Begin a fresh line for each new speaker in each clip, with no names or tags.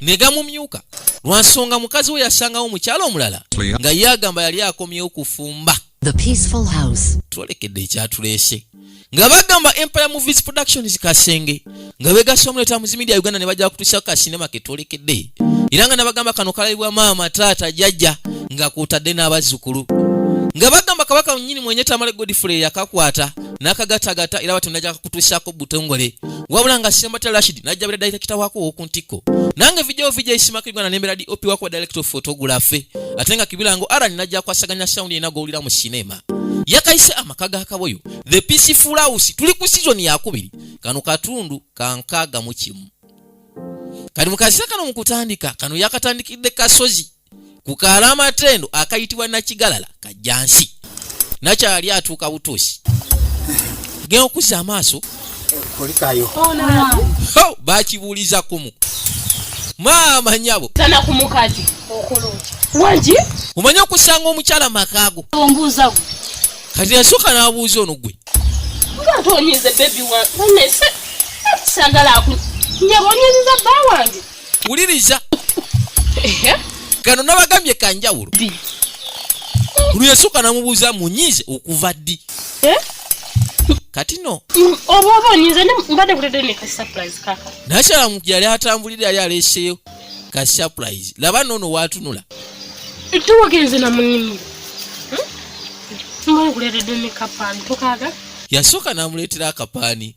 ne gamumyuka lwa nsonga mukazi we yasangawo mukyalo omulala nga ye agamba yali akomyewo kufumba
twolekedde ekyatuleese
nga bagamba empire movies productions kasenge nga begasa omuleeta muzi media uganda ne bajja kutuusa kasinema ketwolekedde era nga nabagamba kano kalabibwa maama taata jajja nga kwotadde n'abazzukulu nga bagamba kabaka nyini mwenye tamale godfrey yakakwata nakagatagata era bati naja kutuusaako butongole wabula nga sembata rashid najja bera direkita wako owoku ntikko nange vidio vija isimako igwana nembera di opi wako direkita of photography ate nga kibilango arani najja kwasaganya sound yena gowulira mu sinema yakayise amaka ga kaboyo the peaceful house tuli ku season yakubiri kano katundu kankaaga mu kimu kali mu kazisa kano mu kutandika kano yakatandikidde kasozi ku kaalo amatendo akayitibwa nakigalala kajjansi nakyali atuuka butuusi genda okuzza amaaso kulikayo
oh, bakibuuliza
kumu maama nyabo tanakumukati
waki omanyi okusanga
omukyala makaago ombuuzago
kati
yasooka n'abuuza ono gwe ngatonyize
bebi wange sagala nyabonyezeza bba wange wuliriza
gano nabagambye kanjawulo luyesooka namubuuza munyiize okuva ddi eh? kati no
nakyalamu yali
atambulire yali aleseyo ka surprise laba nono watunula towagenze
namunimiro yasooka namuleetera
akapaani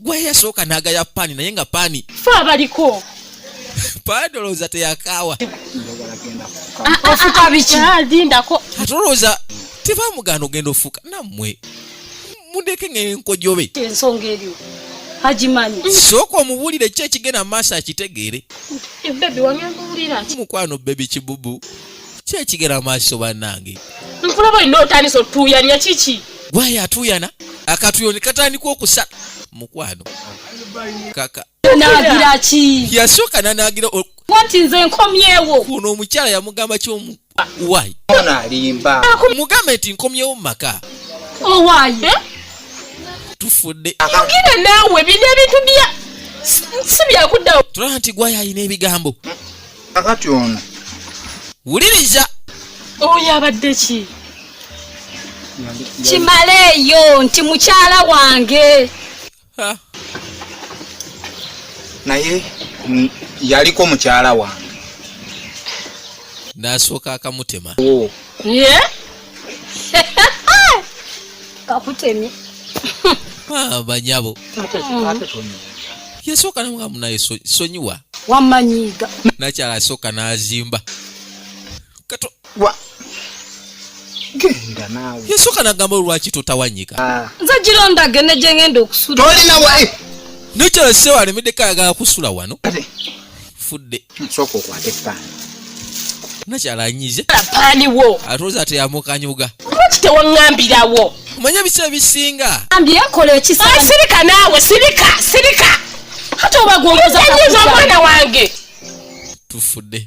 gweyasooka nagaya pani naye nga pani fe abaliko padolooza teyakaawa ah, ah, ofuka
ah, biki lindako atolooza
tebamugana ogenda ofuka nammwe mundeke ngenkojobe ensonga erio
agimanyi mm. sooka omubuulire
ki ekigenda mu maaso akitegeere
eh, mukwano bebi
kibubu kiki ekigera maaso bannange nkulaba olina
otandisa otuuyanya kiki gwayo atuuyana
akatuyo ne katandika okusa mukwano kaka nagira
ki yasooka nanagira
wanti nze
nkomyewo kuno omukyala yamugamba
kyomu wayi alimba
mugambe nti
nkomyewo mu maka owaye oh,
eh?
tufudde yogera
naawe bino ebintu bya si byakuddawo tulaba nti gwayo alina
ebigambo kakati
ono wuliriza
oyo
abadde ki
kimaleeyo nti mukyala wange
naye yaliko mukyala wange
nasooka akamutema
kakutemye ah,
banyabo yasooka namugamu naye sonyiwa wamanyiga
nakyala asooka
nazimba kato wa
genda naawe yasooka nagamba olwaki
totawanyika ah. nze gira ndage
ne gyengenda okusula tolinawa eh.
nakyala
sewalemedeko ayagala kusula wano fudde nsooka okwata
epaani
nakyala anyize apaani wo
atuuza teyamukanyuga
lwaki
tewaŋambirawo omanyi ebisa
ebisinga ambyekola
ekisirika ah, naawe
sirika sirika ate obagwongoza omwana wange tufudde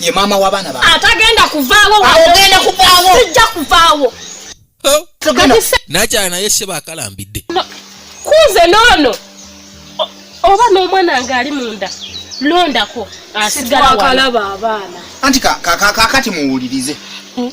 ye maama w'abaana
ba atagenda kuvaawo
ogenda kuvaawo
sijja kuvaawo
nakyala naye seba akalambidde kuze
noono oba n'omwana nga ali munda londako asigalakalaba abaana
anti
kakati muwulirize hmm.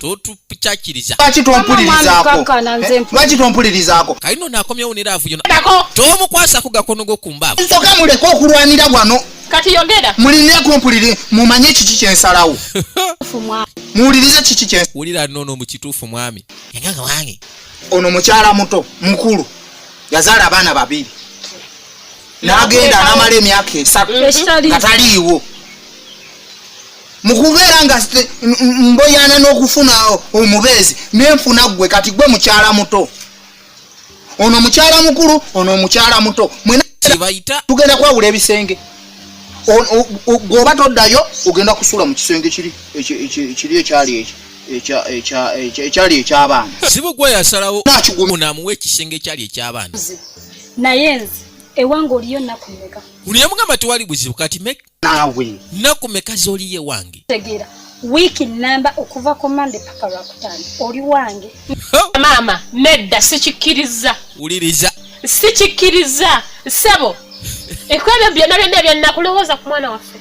totukyakiriza lwaki tompulirizakolwaki
tompulirizaako kalino nakomyewo nera
avuyo tomukwasako gakono go ku mbaavu nsoka muleke okulwanira
wano kati yogera
muline kumpulire
mumanye kiki kyensalawo muwulirize kiki kye wulira nono mu kituufu
mwami enganga wange ono mukyala
muto mukulu yazaala abaana babiri n'agenda n'amala emyaka esatu nga taliiwo mu kubeera nga mboyana n'okufuna omubeezi nenfuna ggwe kati gwe mukyala muto ono mukyala mukulu ono omukyala muto mwenakibayita
tugenda kwawula
ebisenge gweoba toddayo ogenda kusula mu kisenge kiri ekyali ekyo ekyali ekyabaana sibu gwe
yasalawo namuwa ekisenge ekyali ekyabaana naye nze
ewange oliyo nakumeka uliye mugamba tewali
buzibu kati naawe
nnaku meka
z'oliyo ewange tegeera wiiki
nnamba okuva ku mande paka lwakutaano oli wange maama
nedda sikikkiriza wuliriza
sikikkiriza
ssebo ekwebyo byonna byonna ebyannakulowooza ku mwana waffe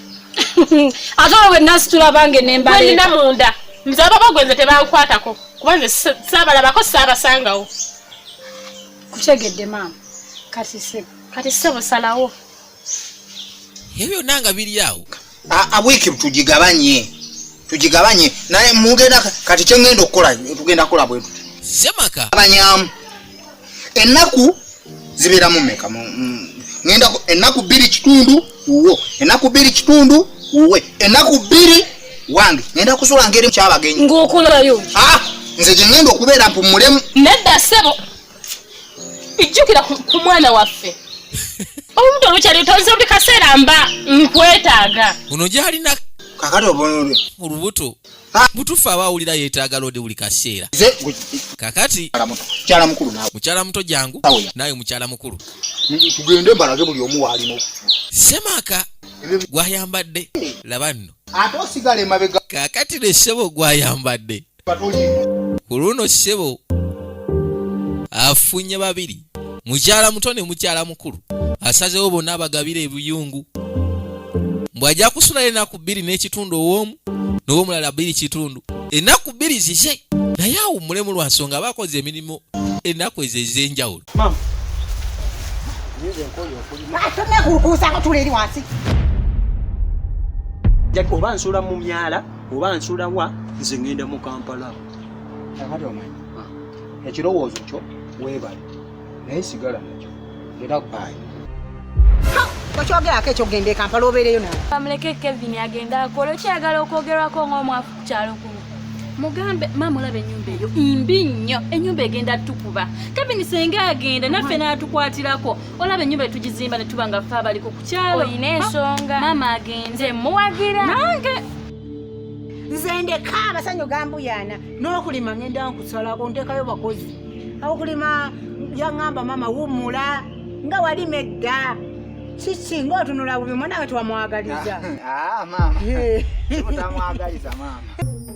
ate
olwo wenasitula bange nembalina munda
nze ababa gwenze tebankwatako kuba nze saabalabako saabasangawo
kutegedde maama kati ssebo kati ssebo salawo
ebyo byonna nga biri awo wiiki
tugigabanye tugigabanye naye mugenda kati kyengenda okukola tugenda kukola bwetuti semaka abanyamu ennaku zibeeramu meka ngenda ennaku bbiri kitundu wuwo ennaku bbiri kitundu wuwe ennaku bbiri wange ngenda kusula ngeri kyabagenyi ngaokolayo ah,
nze
gyengenda okubeera mpumulemu nedda sebo
ijjukira ku mwana waffe olubuto lukyali lutonze buli kaseera mba nkwetaaga uno gyalina
kakati obonole
mu lubuto
butufu aba awulira yetaaga loodi buli kaseera kakati
mukyala muto jangu
naawe mukyala mukulu tugende
mbalage buli omu waalino semaka
gwayambadde laba nno
kakati ne ssebo
gwayambadde ku luno ssebo afunye babiri mukyala muto ne mukyala mukulu asazewo bonna abagabira ebuyungu mbw'ajja kusulayo ennaku bbiri n'ekitundu ow'omu n'owomulala bbiri kitundu ennaku bbiri zize naye awummulemu lwa nsonga aba akoze emirimu ennaku ezo ez'enjawulo
oba nsula mu myala oba nsula wa nze ngenda mu kampala kakati
omanyi ah. ekirowoozo kyo weebale naye sigala nakyo era baayi okyogerako
ekyo genda ekampala obeereyo nawe bamuleke kevin
agenda akola okyayagala okwogerwako ng'omwafu ku kyalo kuno mugambe maama olaba enyumba eyo imbi nnyo enyumba egenda tukuba kevin senga agenda naffe n'atukwatirako olaba ennyumba etugizimba ne tuba nga fe abaliko ku kyalo olina ensonga maama agenze muwagira nange
nze ndeka amasanyu gambuyaana n'okulima ngenda nkusalako ntekayo bakozi awokulima yaŋamba maama wumula nga walima edda kiki ngaotunula bubi mwanawe twamwagaliza ah, ah,
maama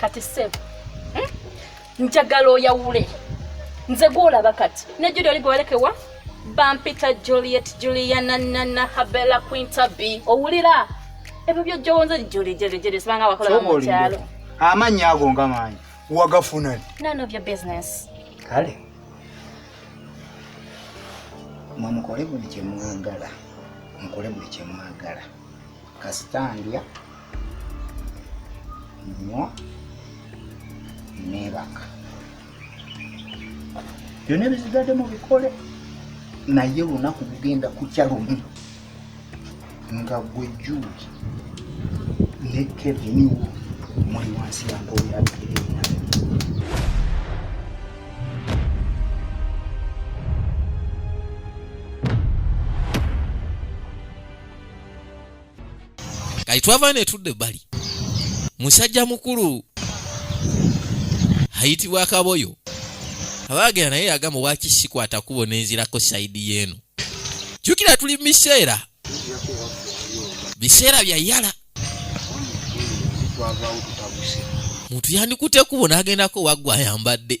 kati
sebo hmm? njagala oyawule nze gwolaba kati ne judi oli gwewalekewa bampita juliet juliana nana habela quinta b owulira ebyo byojjowonza juli jerejere sibanga wakola mukyalo amannya ago
nga manyi wagafuna none of your business
kale
mwe mukole buli kyemwagala mukole buli kyemwagala kasita ndya nywa nebaka byona ebizigadde mu bikole naye olunaku lugenda kukya lumu nga gwe juuli ne kevin wo muli wansi yamboyabirina
kati twava netudde bali musajja mukulu ayitibwa kaboyo abaagera naye yagamba waki sikwata kubo nenzirako saidi yeeno jukira tuli mubiseera biseera bya yala muntu yandikute kubo nagendako waggwa ayambadde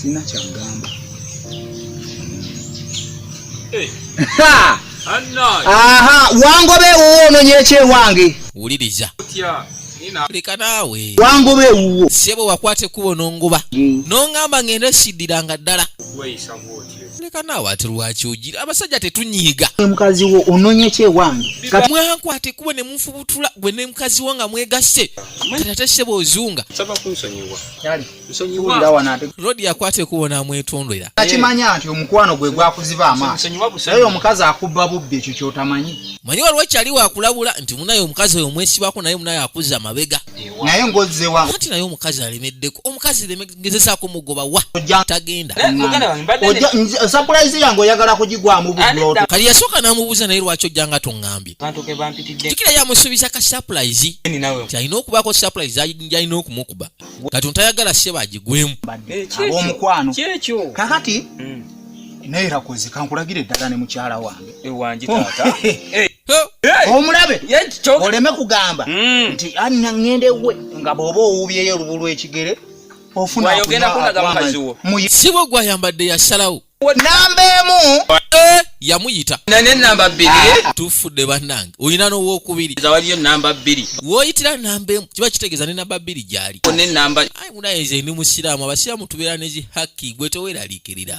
sina kyagamba eh. aha wangobe ewuwo ononye ekyewange wuliriza
leka naawe wangoba ewuwo
sebo wakwata ekkubo
nongoba nongamba ngenda siddiranga ddala leka naawe ate lwaki ogira abasajja tetunyiiga mukazi wo ononye
kyewange mwankwate kuba
ne munfubutula gwe ne mukazi wo nga mwegasse tate sebo ozunga rodi yakwate kubo namwetondera akimanya nti
omukwano gwe gwakuziba amaaso naye omukazi akubba bubbi ekyo kyotamanyi manyi waliwo kyali
wakulabula nti munaye omukazi oyo omwesibako naye munaye akuza amabega naye ngozewa
anti naye omukazi
alemeddeko omukazi ngezesa kumugoba wa tagenda
surprise yange oyagala kugigwamu bulodo kali yasoka namubuza
naye lwaki ojjanga tongambye tikira yamusubiza ka surprise kyalina okubako surprise yalina okumukuba kati ntayagala seba agigwemu eh, abomukwano
kakati mm. naye rakozi kankulagire eddala ne mukyala wange ewangi eh, taata oh. eh. omulabe oleme kugamba hmm. nti anna ŋŋenda ewuwe nga bw'oba owuubyeyo olubu lw'ekigere ofunasibo
gwayambadde yasalawo namba emu
eh, yamuyita
nenamba
bbiri ah. tufudde bannange
olina n'owokubiri waliyo namba bbiri
woyitira namba
emu kiba kitegeeza ne namba bbiri gyali nenamba ayi
munaye nze ndi
musiraamu abasiraamu tubeera nezi hakki gwe teweraliikirira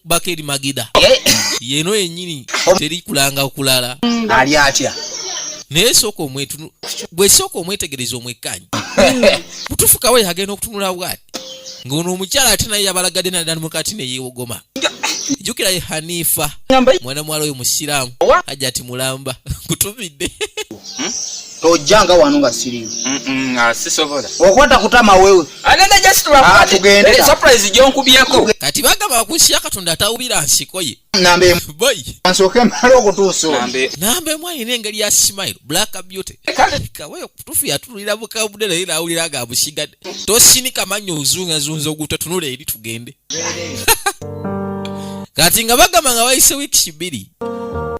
bakeri magida eh. yeno yenyini teri kulanga okulala ali atya
naye sooka
omwetunu gwe sooka omwetegereza omwekkanyi mutufukawo yagenda okutunula bwati ng'ono omukyala ate naye yabalagadde nadda mukati ne yeewogoma jjukira ye hanifa mwana muwala oyo musiraamu hajati mulamba kutumidde hmm?
tojjanga wano nga siriyo ah, sisobola okwata kutama wewe ah, eh, surprise gyonkubyeeko
kati bagamba wakunsiya
katonda atawubira nsiko ye nsooke mala
okutuusa namba emu alina
engeri ya smile black beauty kawe okutufu yatululira bukabudde naye nawulira nga abusigadde tosinika mannya ozungazunza ogutotunula eri tugende kati nga bagamba nga wayise wiiki bbiri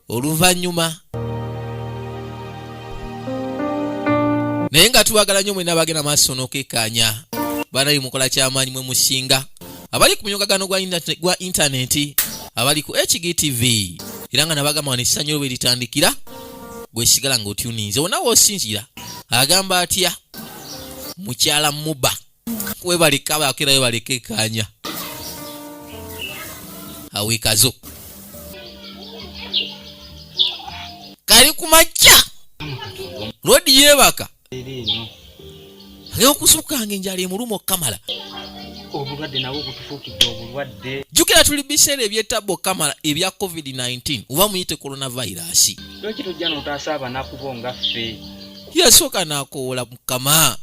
oluvannyuma naye nga tubagala nnyo mwena bagenda maaso n'okekkaanya banayi mukola kyamaanyi mwe musinga abali ku munyogagano gwa intaneti abali ku hgtv era nga nabagamba wano essanyu lwe litandikira gwesigala ng'otyuninze wonawe osinzira agamba atya mukyala muba webalikaba akira webalika ekanya awikazo kali ku majja lodi yebaka agenda okusukanga enjala emuluma okukamala obulwadde
nabwo butufuukidde obulwadde jjukira tuli biseera
ebyettabba okukamala ebya covid-19 oba muyite coronavirus lwaki tojja
notaasa abanakubo nga ffe yasooka
n'akoowola mukama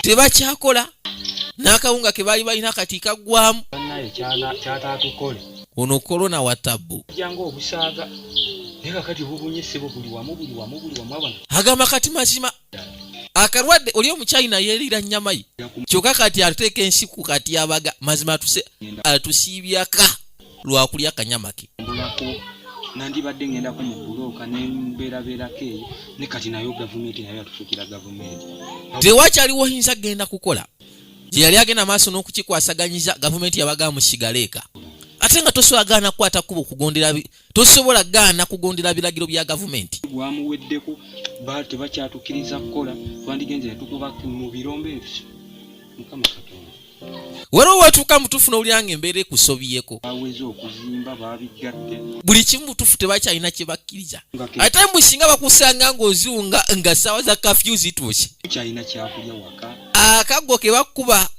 tebakyakola
n'akawunga ke baali balina kati kaggwamu
ono korona
wa tabbu
agamba kati
mazima akalwadde oli omuchina yelira nyamayi kyoka kati ateeka ensiku kati abaga mazima atusiibyaka lwakulya kanyamake
nandibadde ngendako mu bulooka nembeerabeerako eyo ne kati nayo gavumenti nayo yatufuukira gavumenti tewakyaliwo
yinza kugenda kukola gyeyali agenda maaso n'okukikwasaganyiza gavumenti yabagaa musigaleeka ate nga toswagaana kukwata kuba okugondera tosobola gaana kugondera biragiro bya gavumenti gwamuweddeko
ba tebakyatukiriza kukola twandigenze netukuba mu birombe ebyo mukama katonda waliwo
watuuka mutuufu nowulira nga embeera ekusobiyeko aweze okuzimba
babiggadde buli kimu mutuufu
tebakyalina kyebakkiriza ate musinga bakusanga ngaoziwunga nga saawa za kafyu zituuse kyalina kyakulya
waka akaggo kebakuba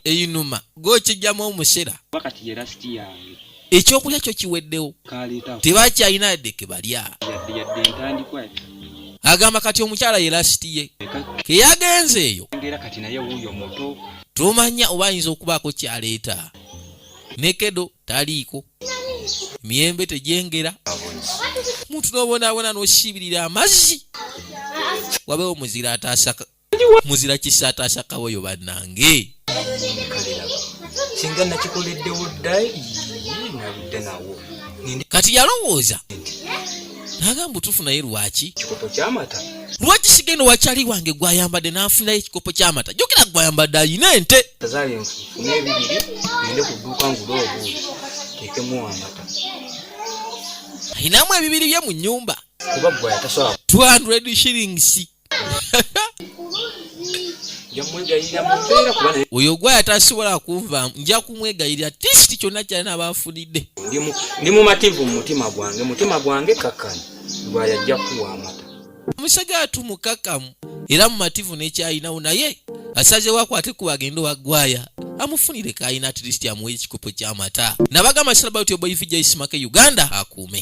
einuma gokijjamu omusera kati yerasiti
yange ekyokulya kyo
kiweddewo tebakyalina yadde kebalya
agamba
kati omukyala ye lasiti ye keyagenze eyo
tomanya oba
ayinza okubaako kyaleeta nekedo taliiko emiyembe tegyengera muntu nobonaabona nosiibirira amazzi wabewo muzira ataasaka muzira kisataasa kaboyo bannange
singa nakikoleddewo dda naludde nawo kati
yalowooza nagamba otufu naye lwaki kikopo kyamata
lwaki sigenda
wakyali wange gwayambadde nafunayo ekikopo kyamata jukira gwayambadde ayina ente azali nfuna
ebibiri ende kuduuka ngula obuuzi tekemu amata ayinamu
ebibiri bye mu nyumba kuba
gwayatasola 200 shillings
oyo gwaya tasobola kunva nja kumwegayirira tisiti kyonna kyali nabanfunidde ndi
mumativu mumutima gwange mutima gwange kakkana gwaya ajja kuwa amata omusajja watu
mukakamu era mumativu nekyalinawo naye asazewo akwate kuba agenda owagwaya amufunire kayina atleast amuwa ekikopo kyamata nabagamba sirabautyoboifijaisimakeyuganda akuume